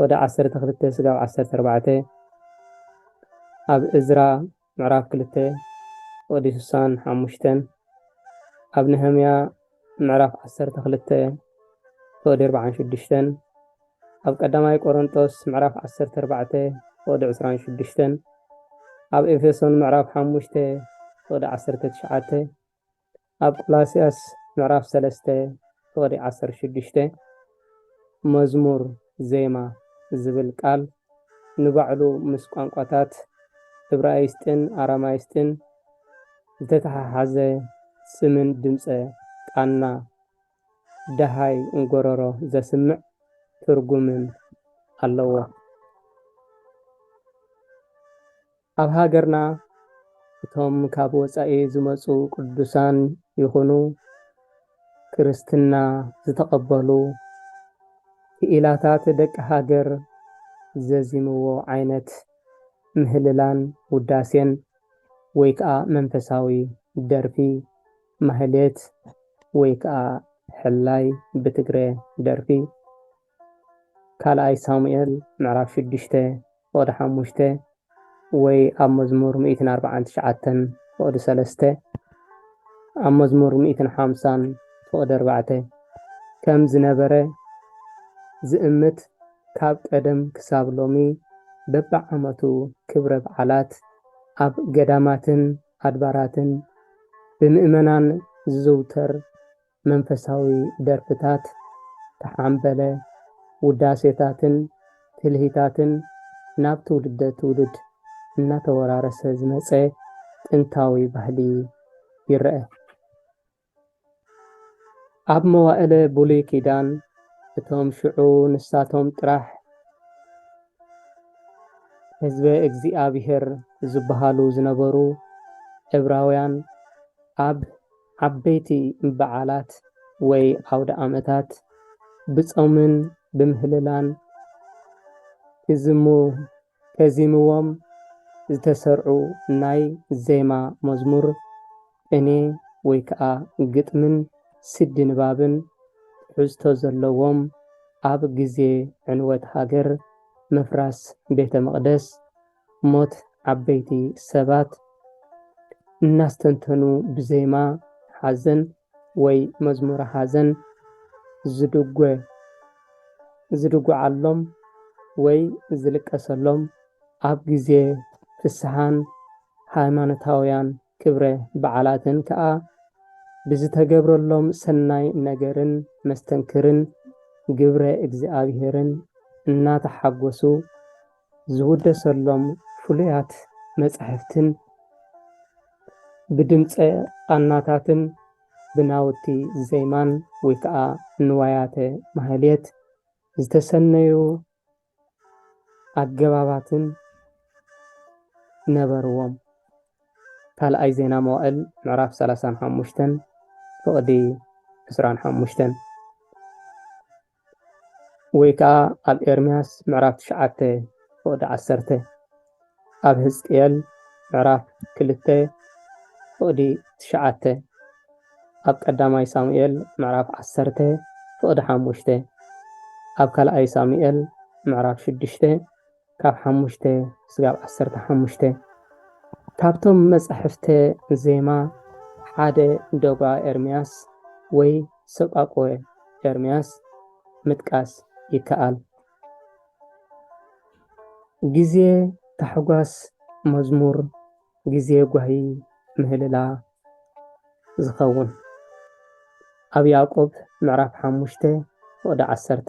ወደ ዓሰርተ ክልተ ስጋብ ዓሰርተ ኣርባዕተ፣ ኣብ እዝራ ምዕራፍ ክልተ ወዲ ስሳን ሓሙሽተን፣ ኣብ ነህምያ ምዕራፍ ዓሰርተ ክልተ ወዲ ኣርባዓን ሽዱሽተን፣ ኣብ ቀዳማይ ቆሮንጦስ ምዕራፍ ዓሰርተ ኣርባዕተ ወዲ ዕስራን ሽዱሽተን፣ ኣብ ኤፌሶን ምዕራፍ ሓሙሽተ ወዲ ዓሰርተ ትሽዓተ፣ ኣብ ቆላስያስ ምዕራፍ ሰለስተ ፍቕዲ ዓሰርተ ሽዱሽተ መዝሙር ዜማ ዝብል ቃል ንባዕሉ ምስ ቋንቋታት እብራይስጥን ኣራማይስጥን ዝተተሓሓዘ ስምን ድምጸ ቃና ደሃይ እንጎሮሮ ዘስምዕ ትርጉምን ኣለዎ። ኣብ ሃገርና እቶም ካብ ወጻኢ ዝመጹ ቅዱሳን ይኹኑ ክርስትና ዝተቐበሉ ክኢላታት ደቂ ሃገር ዘዚምዎ ዓይነት ምህልላን ውዳሴን ወይ ከኣ መንፈሳዊ ደርፊ ማህሌት ወይ ከኣ ሕላይ ብትግረ ደርፊ ካልኣይ ሳሙኤል ምዕራፍ ሽዱሽተ ፍቕዲ ሓሙሽተ ወይ ኣብ መዝሙር ሚእትን ኣርብዓን ትሽዓተን ፍቕዲ ሰለስተ ኣብ መዝሙር ሚእትን ሓምሳን ፍቕዲ ኣርባዕተ ከም ዝነበረ ዝእምት ካብ ቀደም ክሳብ ሎሚ በብዓመቱ ክብረ በዓላት ኣብ ገዳማትን ኣድባራትን ብምእመናን ዝዝውተር መንፈሳዊ ደርፍታት፣ ተሓምበለ ውዳሴታትን ትልሂታትን ናብ ትውልደ ትውልድ እናተወራረሰ ዝመፀ ጥንታዊ ባህሊ ይረኣ። ኣብ መዋእለ ብሉይ ኪዳን እቶም ሽዑ ንሳቶም ጥራሕ ህዝበ እግዚኣብሔር ዝበሃሉ ዝነበሩ ዕብራውያን ኣብ ዓበይቲ በዓላት ወይ ኣውደኣመታት ብጾምን ብምህልላን ክዝሙ ከዚምዎም ዝተሰርዑ ናይ ዜማ መዝሙር፣ ቅኔ ወይ ከኣ ግጥምን ስዲ ንባብን ትሕዝቶ ዘለዎም ኣብ ግዜ ዕንወት ሃገር፣ ምፍራስ ቤተ መቕደስ፣ ሞት ዓበይቲ ሰባት እናስተንተኑ ብዜማ ሓዘን ወይ መዝሙረ ሓዘን ዝድጐ ዝድጐዓሎም ወይ ዝልቀሰሎም ኣብ ግዜ ፍስሓን ሃይማኖታውያን ክብረ በዓላትን ከኣ ብዝተገብረሎም ሰናይ ነገርን መስተንክርን ግብረ እግዚኣብሔርን እናተሓጐሱ ዝውደሰሎም ፍሉያት መጻሕፍትን ብድምጸ ቓናታትን ብናውቲ ዜማን ወይ ከዓ ንዋያተ ማህሌት ዝተሰነዩ ኣገባባትን ነበርዎም። ካልኣይ ዜና መዋእል ምዕራፍ ሰላሳን ሓሙሽተን ፍቕዲ ዕስራን ሓሙሽተን። ወይ ከኣ ኣብ ኤርምያስ ምዕራፍ ትሽዓተ ፍቕዲ ዓሰርተ፣ ኣብ ህዝቅኤል ምዕራፍ ክልተ ፍቕዲ ትሽዓተ፣ ኣብ ቀዳማይ ሳሙኤል ምዕራፍ ዓሰርተ ፍቕዲ ሓሙሽተ፣ ኣብ ካልኣይ ሳሙኤል ምዕራፍ ሽዱሽተ፣ ካብ ሓሙሽተ ስጋብ ዓሰርተ ሓሙሽተ ካብቶም መጻሕፍተ ዜማ ሓደ ዶግዓ ኤርምያስ ወይ ሰጳቊወ ኤርምያስ ምጥቃስ ይከኣል። ግዜ ታሕጓስ መዝሙር ግዜ ጓሂ ምህልላ ዝኸውን ኣብ ያእቆብ ምዕራፍ ሓሙሽተ ፍቕዲ ዓሰርተ።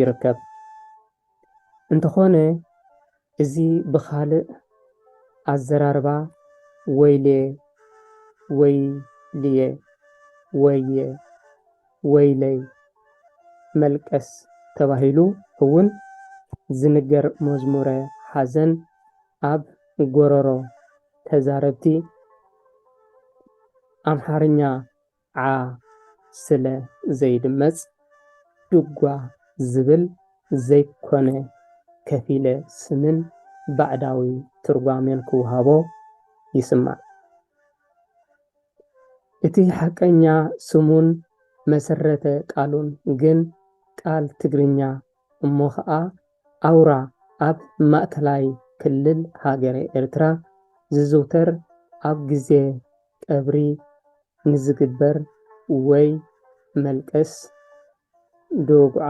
ይርከብ። እንተኾነ እዚ ብኻልእ ኣዘራርባ ወይሌ፣ ወይልየ፣ ወየ፣ ወይለይ፣ መልቀስ ተባሂሉ እውን ዝንገር መዝሙረ ሓዘን ኣብ ጎረሮ ተዛረብቲ ኣምሓርኛ ዓዓ ስለ ዘይድመጽ ድጓ ዝብል ዘይኮነ ከፊለ ስምን ባዕዳዊ ትርጓሜን ክወሃቦ ይስማዕ። እቲ ሓቀኛ ስሙን መሰረተ ቃሉን ግን ቃል ትግርኛ እሞ ከኣ ኣውራ ኣብ ማእከላይ ክልል ሃገረ ኤርትራ ዝዝውተር ኣብ ግዜ ቀብሪ ንዝግበር ወይ መልቀስ ዶግዓ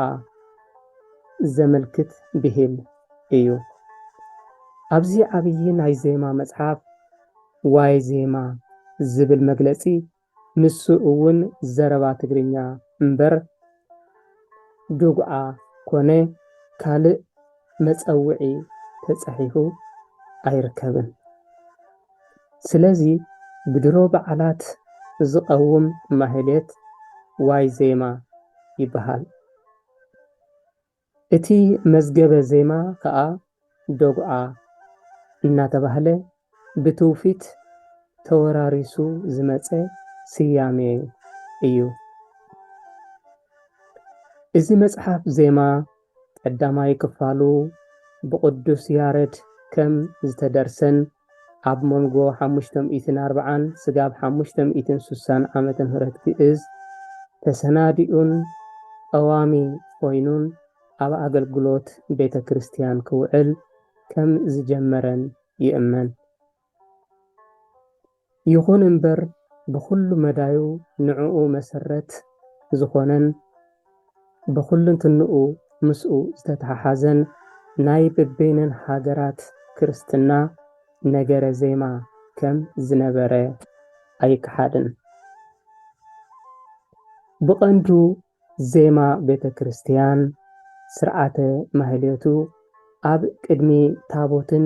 ዘመልክት ብሂል እዩ። ኣብዚ ዓብዪ ናይ ዜማ መጽሓፍ ዋይ ዜማ ዝብል መግለጺ ንሱ እውን ዘረባ ትግርኛ እምበር ዱግዓ ኮነ ካልእ መጸውዒ ተጸሒፉ ኣይርከብን። ስለዚ ብድሮ በዓላት ዝቐውም ማህሌት ዋይ ዜማ ይበሃል። እቲ መዝገበ ዜማ ከኣ ዶግዓ እናተባህለ ብትውፊት ተወራሪሱ ዝመጸ ስያሜ እዩ። እዚ መጽሓፍ ዜማ ቀዳማይ ክፋሉ ብቕዱስ ያረድ ከም ዝተደርሰን ኣብ መንጎ ሓሙሽተ ሚእትን ኣርብዓን ስጋብ ሓሙሽተ ሚእትን ስሳን ዓመተ ምህረት ግእዝ ተሰናዲኡን ቀዋሚ ኮይኑን ኣብ ኣገልግሎት ቤተ ክርስቲያን ክውዕል ከም ዝጀመረን ይእመን። ይኹን እምበር ብኹሉ መዳዩ ንዕኡ መሰረት ዝኾነን ብኹልንትንኡ ምስኡ ዝተተሓሓዘን ናይ በበይነን ሃገራት ክርስትና ነገረ ዜማ ከም ዝነበረ ኣይከሓድን። ብቐንዱ ዜማ ቤተ ክርስቲያን፣ ሥርዓተ ማኅሌቱ፣ ኣብ ቅድሚ ታቦትን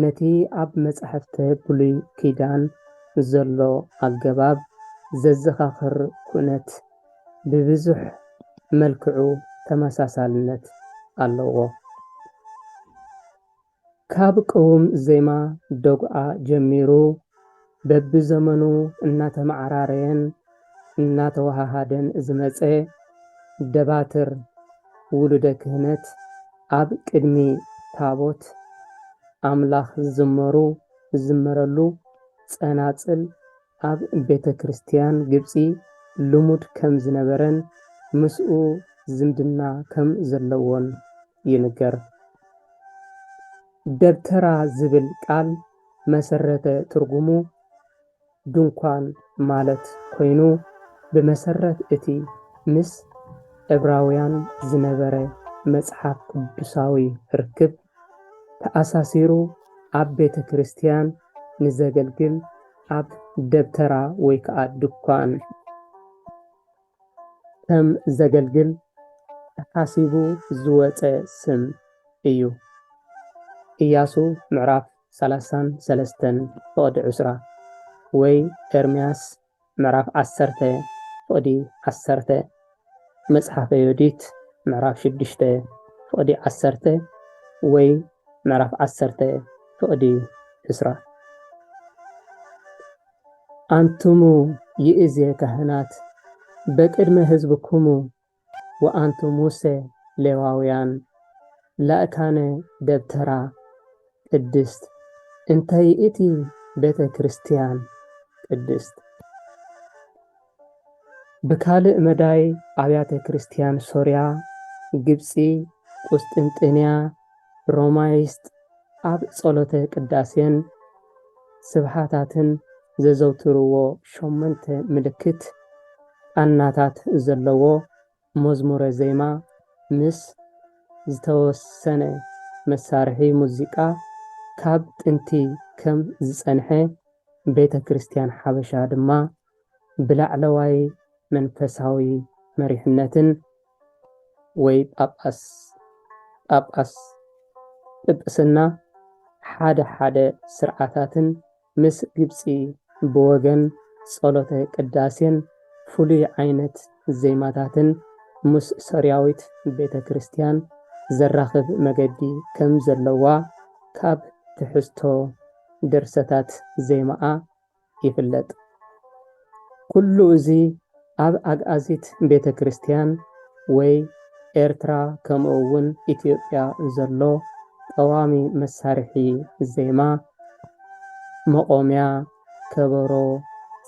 ነቲ ኣብ መጻሕፍተ ብሉይ ኪዳን ዘሎ ኣገባብ ዘዘኻኽር ኩነት ብብዙኅ መልክዑ ተመሳሳልነት ኣለዎ። ካብ ቅውም ዜማ ደጉዓ ጀሚሩ በቢዘመኑ እናተመዓራረየን እናተወሃሃደን ዝመፀ ደባትር ውሉደ ክህነት ኣብ ቅድሚ ታቦት ኣምላኽ ዝዝመሩ ዝዝመረሉ ፀናፅል ኣብ ቤተ ክርስትያን ግብጺ ልሙድ ከም ዝነበረን ምስኡ ዝምድና ከም ዘለዎን ይንገር። ደብተራ ዝብል ቃል መሰረተ ትርጉሙ ድንኳን ማለት ኮይኑ ብመሰረት እቲ ምስ ዕብራውያን ዝነበረ መጽሓፍ ቅዱሳዊ ርክብ ተኣሳሲሩ ኣብ ቤተ ክርስቲያን ንዘገልግል ኣብ ደብተራ ወይ ከዓ ድኳን ከም ዘገልግል ተሓሲቡ ዝወፀ ስም እዩ። ኢያሱ ምዕራፍ ሰላሳን ሰለስተን ፍቕዲ ዕስራ ወይ ኤርምያስ ምዕራፍ ዓሰርተ ፍቕዲ ዓሰርተ መጽሓፈ ዮዲት ምዕራፍ ሽዱሽተ ፍቕዲ ዓሰርተ ወይ ምዕራፍ ዓሰርተ ፍቕዲ ዕስራ። ኣንትሙ ይእዜ ካህናት በቅድመ ሕዝብኩሙ ወኣንቱ ሙሰ ሌዋውያን ላእካነ ደብተራ ቅድስት እንተ ይእቲ ቤተ ክርስቲያን ቅድስት። ብካልእ መዳይ ኣብያተ ክርስቲያን ሶርያ፣ ግብጺ፣ ቍስጥንጥንያ፣ ሮማይስጥ ኣብ ጸሎተ ቅዳሴን ስብሓታትን ዘዘውትርዎ ሸሞንተ ምልክት ቃናታት ዘለዎ መዝሙረ ዜማ ምስ ዝተወሰነ መሳርሒ ሙዚቃ ካብ ጥንቲ ከም ዝጸንሐ ቤተ ክርስቲያን ሓበሻ ድማ ብላዕለዋይ መንፈሳዊ መሪሕነትን ወይ ጳጳስ፣ ጳጳስ፣ ጵጵስና ሓደ ሓደ ስርዓታትን ምስ ግብጺ ብወገን ጸሎተ ቅዳሴን ፍሉይ ዓይነት ዜማታትን ምስ ሶርያዊት ቤተ ክርስቲያን ዘራኽብ መገዲ ከም ዘለዋ ካብ ትሕዝቶ ድርሰታት ዜማኣ ይፍለጥ። ኩሉ እዚ ኣብ ኣግኣዚት ቤተ ክርስቲያን ወይ ኤርትራ ከምኡ'ውን ኢትዮጵያ ዘሎ ቀዋሚ መሳርሒ ዜማ፣ መቖምያ፣ ከበሮ፣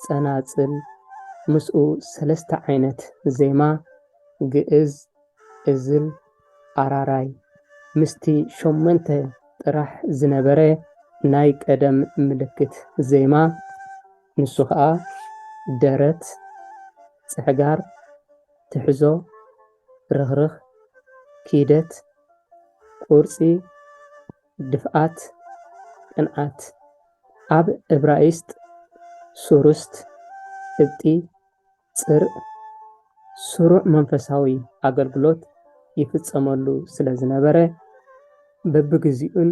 ጸናጽል፣ ምስኡ ሰለስተ ዓይነት ዜማ፣ ግእዝ፣ እዝል ኣራራይ ምስቲ ሸሞንተ ጥራሕ ዝነበረ ናይ ቀደም ምልክት ዜማ፣ ንሱ ኸኣ ደረት፣ ጽሕጋር፣ ትሕዞ፣ ርኽርኽ፣ ኪደት፣ ቁርጺ፣ ድፍኣት፣ ቅንኣት፣ ኣብ እብራይስጥ ሱሩስት፣ እብጢ፣ ጽርእ ስሩዕ መንፈሳዊ ኣገልግሎት ይፍጸመሉ ስለ ዝነበረ፣ በብግዜኡን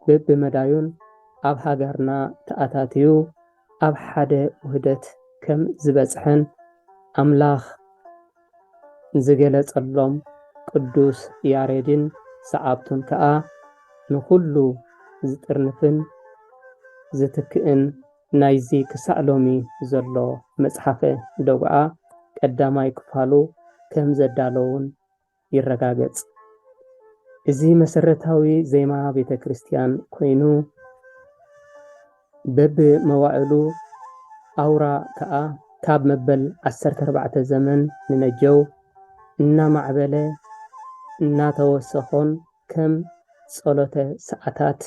በብመዳዩን ኣብ ሃገርና ተኣታትዩ ኣብ ሓደ ውህደት ከም ዝበጽሐን ኣምላኽ ዝገለጸሎም ቅዱስ ያሬድን ሰዓብቱን ከኣ ንኹሉ ዝጥርንፍን ዝትክእን ናይዚ ክሳዕ ሎሚ ዘሎ መጽሓፈ ደጉዓ ቀዳማይ ክፋሉ ከም ዘዳለዉን ይረጋገጽ። እዚ መሰረታዊ ዜማ ቤተ ክርስቲያን ኮይኑ በቢ መዋዕሉ ኣውራ ከኣ ካብ መበል ዓሰርተ ኣርባዕተ ዘመን ንነጀው እናማዕበለ እናተወሰኾን ከም ጸሎተ ሰዓታት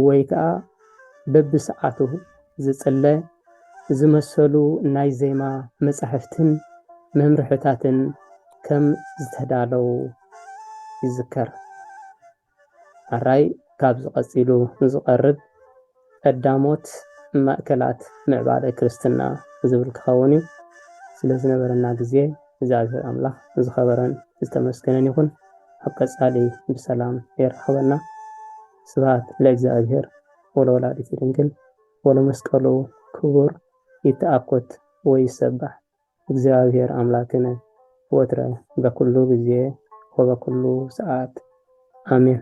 ወይ ከኣ በብሰዓቱ ዝጽለ ዝመሰሉ ናይ ዜማ መጻሕፍትን መምርሕታትን ከም ዝተዳለዉ ይዝከር። ኣራይ ካብዚ ቀጺሉ ዝቐርብ ቀዳሞት ማእከላት ምዕባለ ክርስትና ዝብል ክኸውን እዩ። ስለ ዝነበረና ግዜ እግዚኣብሔር ኣምላኽ ዝኸበረን ዝተመስገነን ይኹን። ኣብ ቀጻሊ ብሰላም የራኽበና። ስብሐት ለእግዚኣብሔር ወለወላዲቱ ድንግል ወለመስቀሉ ክቡር ይተኣኮት ወይሰባሕ እግዚኣብሔር ኣምላክነ ወትረ በኩሉ ግዜ ወበኩሉ ሰዓት ኣሜን።